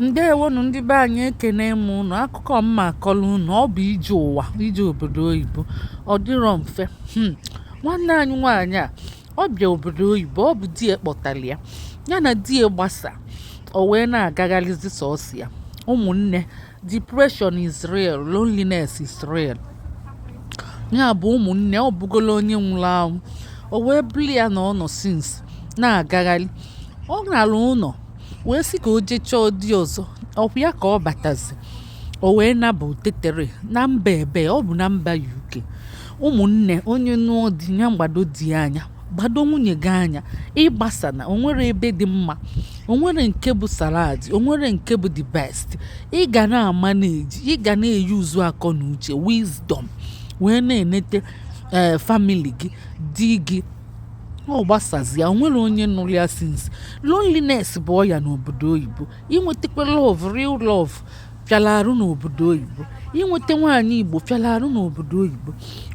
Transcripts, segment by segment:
ndewonụ ndị be anyị ekene m ụnụ akụkọ mma akọlụ ụnụ ọ bụ ije ụwa ije obodo oyibo ọ dịrọ mfe hmm. nwanne anyị nwaanyị a ọ bịa obodo oyibo ọ bụ di ya kpọtara ya ya na di ya gbasa o wee na-agagharịzi sọsọ ya ụmụnne depression is real loneliness is real ya bụ ụmụnne ọ bụgola onye nwụrụ anwụ o wee bụlụ ya na ọ nọ since na-agagharị ọ nara ụnọ wee sị ka o jee chọọ di ọzọ ọkwa ya ka ọ batazi o wee naba o teterọ na mba ebe ọ bụ na mba UK ụmụnne onye nụọ di ya gbado di anya gbado nwunye gị anya ịgbasa na o nwerọ ebe dị mma o nwerọ nke bụ salad o nwerọ nke bụ the best ị ga na-ama na-eji ị ga na-use akọ na uche wisdom wee na-enete ee eh, famili gị di gị ọ gbasazia o nwerọ onye nụrụ ya since loneliness bụ ọya n'obodo oyibo inwetakwa love real love fịara arụ n'obodo oyibo inweta nwaanyị igbo fịara arụ n'obodo oyibo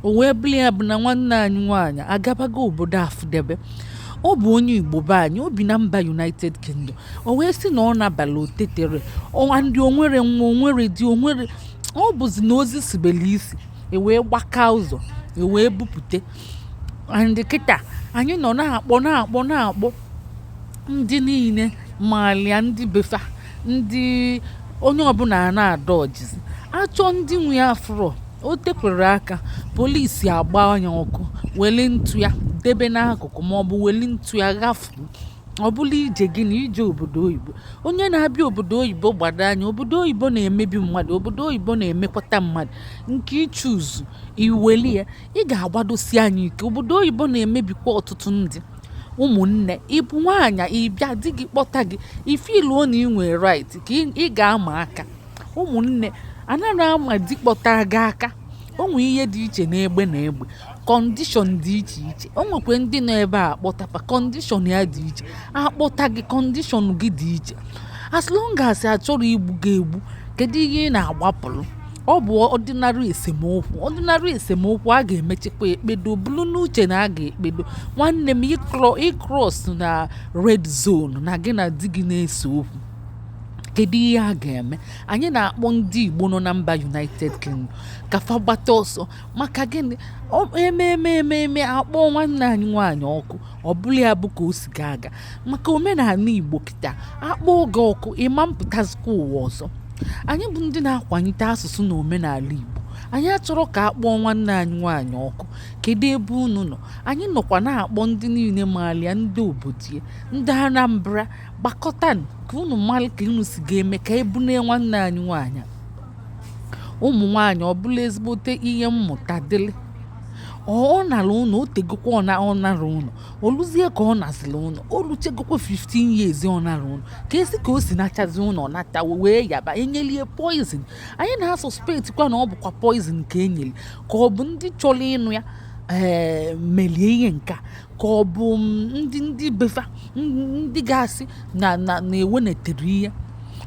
o wee bụrụ ya bụ na nwanne anyị nwaanyị agabago obodo afụdebe ọ bụ onye igbo be anyị o bi na mba united kingdom o wee sị na ọ nabala o teterọ and o nwerọ nwa o nwerọ di o nwerọ ọ bụzi na ozu sibelu isi e wee gbaka ụzọ e wee bupute and kịta anyị nọ na-akpọ na-akpọ na-akpọ ndị niile malụ ya ndị be fa ndị onye ọbụla a na-adọjịzi achọọ ndị nwe ya afụrọ o tekwere aka polisi agba ya ọkụ weli ntụ ya debe n'akụkụ ma ọ bụ weli ntụ ya ghafu ọ bụlụ ije gị na ije obodo oyibo onye na-abịa obodo oyibo gbado anya obodo oyibo na-emebi mmadụ obodo oyibo na-emekwata mmadụ nke ị choose i weli ya ị ga-agbadosi anya ike obodo oyibo na-emebikwa ọtụtụ ndị ụmụnne ị bụ nwaanyị ị bịa di gị kpọta gị ị feeluo na ị nwere right ka ị ga-ama aka ụmụnne anarọ ama di kpọta gị aka o nwe ihe dị iche n'egbe na egbe kọndishọn dị iche iche o nwekwa ndị nọ ebe a kpọta fa kọndishọn ya dị iche akpọta gị kọndishọn gị dị iche as long as achọrọ igbu gị egbu kedu ihe ị na-agbapụrụ ọ bụ ordinary esemokwu ordinary esemokwu a ga-emechikwa ekpedo buru n'uche na a ga-ekpedo nwanne m ị cross na red zone na gị na di gị na-ese okwu kedu ihe a ga-eme anyị na-akpọ ndị Igbo nọ na mba United Kingdom ka fa gbata ọsọ maka gịnị eme eme eme eme akpọọ nwanne anyị nwaanyị ọkụ ọ bụla ya bụ ka o si ga-aga maka omenala igbo kịta a kpọọ gị ọkụ ịma mpụtazikwa ụwa ọzọ anyị bụ ndị na-akwanyite asụsụ na omenala igbo anyị achọrọ ka a kpọọ nwanne anyị nwaanyị ọkụ kedu ebe unu nọ anyị nọkwa na-akpọ ndị niile malia ndị obodie ndị anambra gbakọta ka unu mara ka unu si ga-eme ka ebunee nwanne anyị nwaanyị ụmụ nwaanyị ọ bụla ezigbote ihe mmụta dịlị ọ nara ụnọ o tegokwa ọ na- ọ nara ụnọ o luzie ka ọ naziri ụnọ o luchagokwa 15 years ọ nara ụnọ ka esi ka o si nachazi ụnọ ọ nata wee yaba enyelie poison anyị na-asuspectikwa na ọ bụkwa poison ka enyeli ka ọ bụ ndị chọrọ ịnụ ya ee melie ihe nke a ka ọ bụ ndị ndị befa ndị ga-asị na na na-ewenetere ihe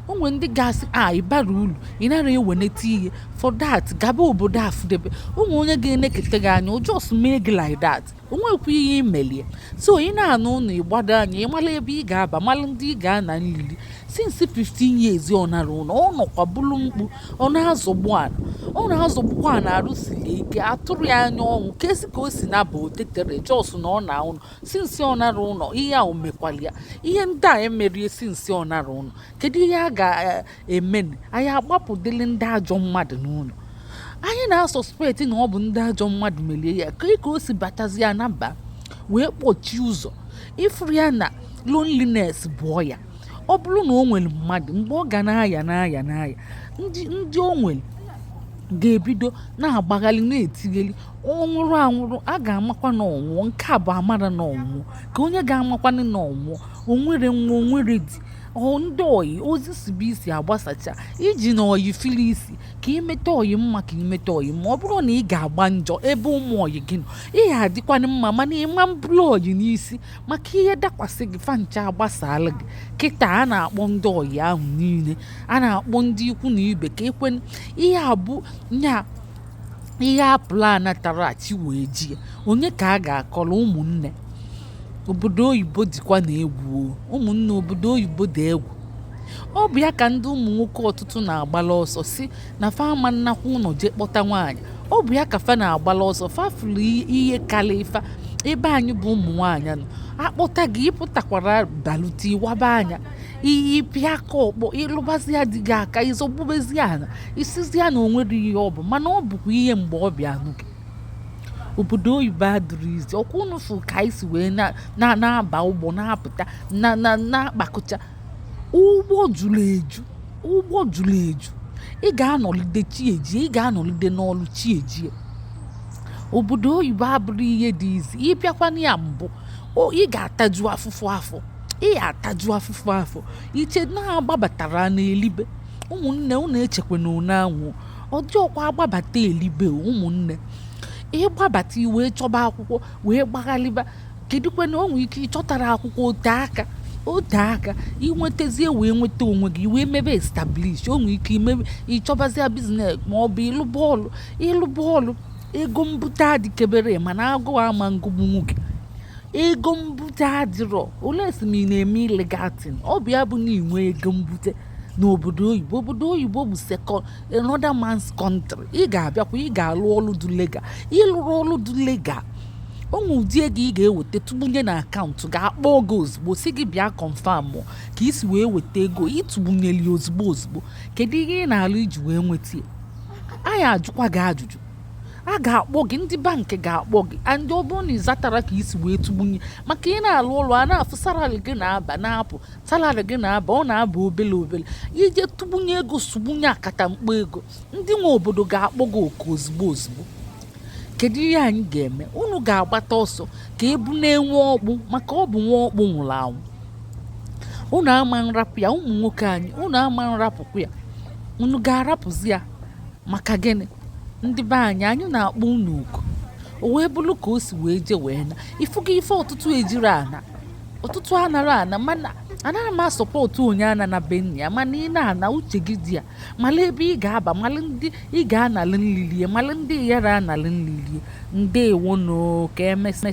o nwere ndị ga-asị a ị bara uru ị nara eweneta ihe for that gaba obodo afụdebe o nwere onye ga-eneketa gị anya o just mee gị like that o nwekwa ihe i melie so ị na-ana ụnọ ị gbado anya ị mala ebe ị ga-aba mala ndị ị ga-ana nlili since 15 years ọ nara ụnọ ọ nọkwa bụrụ mkpu ọ na-azọgbu ana ọ na-azọgbukwa ana arụ siri ike a tụrọ ya anya ọnwụ ka esi ka o si naba otetere just na ọ na ụnọ since ọ nara ụnọ ihe a omekwala ya ihe ndị a emerie since ọ nara ụnọ kedu ihe a ga-eme eh, anyị agbapụdịrị ndị ajọ mmadụ n'ụnọ anyị na-asuspect na ọ bụ ndị ajọ mmadụ merie ya ka ka o si batazi ya naba wee kpọchie ụzọ ị fụrụ ya na loneliness bụ ọya ọ bụrụ na o nwere mmadụ mgbe ọ ga na-aya na-aya na-aya ndị ndị o nwere ga-ebido na-agbagharị na-etigheli ọ nwụrụ anwụrụ a ga-amakwa na ọ nwụọ nke a bụ amara na ọ nwụọ ka onye ga-amakwanụ na ọ nwụọ o nwere nwa o nwere di ndị ọyị ozu sibe isi agbasacha i ji na ọyị fili isi ka i meta ọyị mma ka i meta ọyị mma ọ bụrọ na ị ga-agba njọ ebe ụmụ ọyị gị nọ ị ga-adịkwanụ mma mana ịma mburu ọyị n'isi maka ihe dakwasị gị fa ncha agbasaala gị kịta a na-akpọ ndị ọyị ahụ niile a na-akpọ ndị ikwu na ibe ka ekwe ihe abụ nya ihe a plan tara achi wee ji ya onye ka a ga-akọrọ ụmụnne obodo oyibo dịkwanụ egwu ụmụnne obodo oyibo dị egwu ọ bụ ya ka ndị ụmụ nwoke ọtụtụ na-agbala ọsọ sị na fa ama nnakwa ụnọ jee kpọta nwaanyị ọ bụ ya ka fa na-agbala ọsọ fa fụrụ i- ihe karịrị fa ebe anyị bụ ụmụ nwaanyị nọ akpọta gị ị pụtakwara balute ị waba anya ị pịa aka ọkpọ ị lụbazia di gị aka ị zọgbubezi ana ị sịzia na o nwerọ ihe ọ bụ mana ọ bụkwa ihe mgbe ọ bịa nụ gị obodo oyibo adịrọ easy ọkwa unu fụ ka anyị si wee na- na- na-aba ụgbọ na-apụta na- na- na-akpakọcha ụgbọ juru eju ụgbọ juru eju ị ga-anọlide chi ejie ị ga-anọlide n'ọlụ chi ejie obodo oyibo abụrọ ihe dị easy ị bịakwana ya mbụ ị ga-ataju afụfụ afọ ị ga-ataju afụfụ afọ i che na a gbabata a na-elibe ụmụnne unu echekwa na unu anwụ ọ dịrọkwa agbabata elibe ụmụnne ị gbabata i wee chọba akwụkwọ wee gbaghalịba kedụkwa na o nwere ike ị chọtarọ akwụkwọ o tee aka o tee aka i nwetazie wee nweta onwe gị wee mebe establish o nwere ike i mebe ị chọbazia business ma ọ bụ ị lụba ọlụ ị lụba ọlụ ego mbute adịkeberọ mana agụụ ama ngụgbu nwoke ego mbute adịrọ unless ị na-eme illegal thing ọ bụ ya bụ na i nwee ego mbute n'obodo oyibo obodo oyibo bụ second another man's country ị ga-abịakwa ị ga-alụ ọlụ dị legal ị lụrọ ọlụ dị legal o nwee ụdị ego ị ga-eweta tụgbunye na account a ga-akpọ gị ozugbo sị gị bịa confirm ka i si wee weta ego ị tụgbunyeli ozugbo ozugbo kedu ihe ị na-alụ i ji wee nweta ya anyị ajụkwa gị ajụjụ a ga-akpọ gị ndị bank ga-akpọ gị and ọ bụrụ na ị zatarọ ka i si wee tụgbunye maka ị na-alụ ọlụ a na-afụ salary gị na-aba na-apụ salary gị na-aba ọ na-aba obele obele i jee tụgbunye ego sụgbunye akata mkpọ ego ndị nwe obodo ga-akpọ gị oku ozugbo ozugbo kedu ihe anyị ga-eme unu ga-agbata ọsọ ka e buna nwa ọkpụ maka ọ bụ nwa ọkpụ nwụrụ anwụ unu ama nrapụ ya ụmụ nwoke anyị unu ama nrapụkwa ya unu ga-arapụzi ya maka gịnị ndị be anyị anyị na-akpọ unu oku o wee bụrụ ka o si wee jee wee na ị fụgo ife ọtụtụ ejirọ ana ọtụtụ anarọ ana mana anaghị m a-support onye anana be nna ya mana ị na-ana uche gị dị ya mala ebe ị ga-aba mala ndị ị ga-analị nli lie mala ndị ị yara analị nli lie ndeewonụ ka emesịa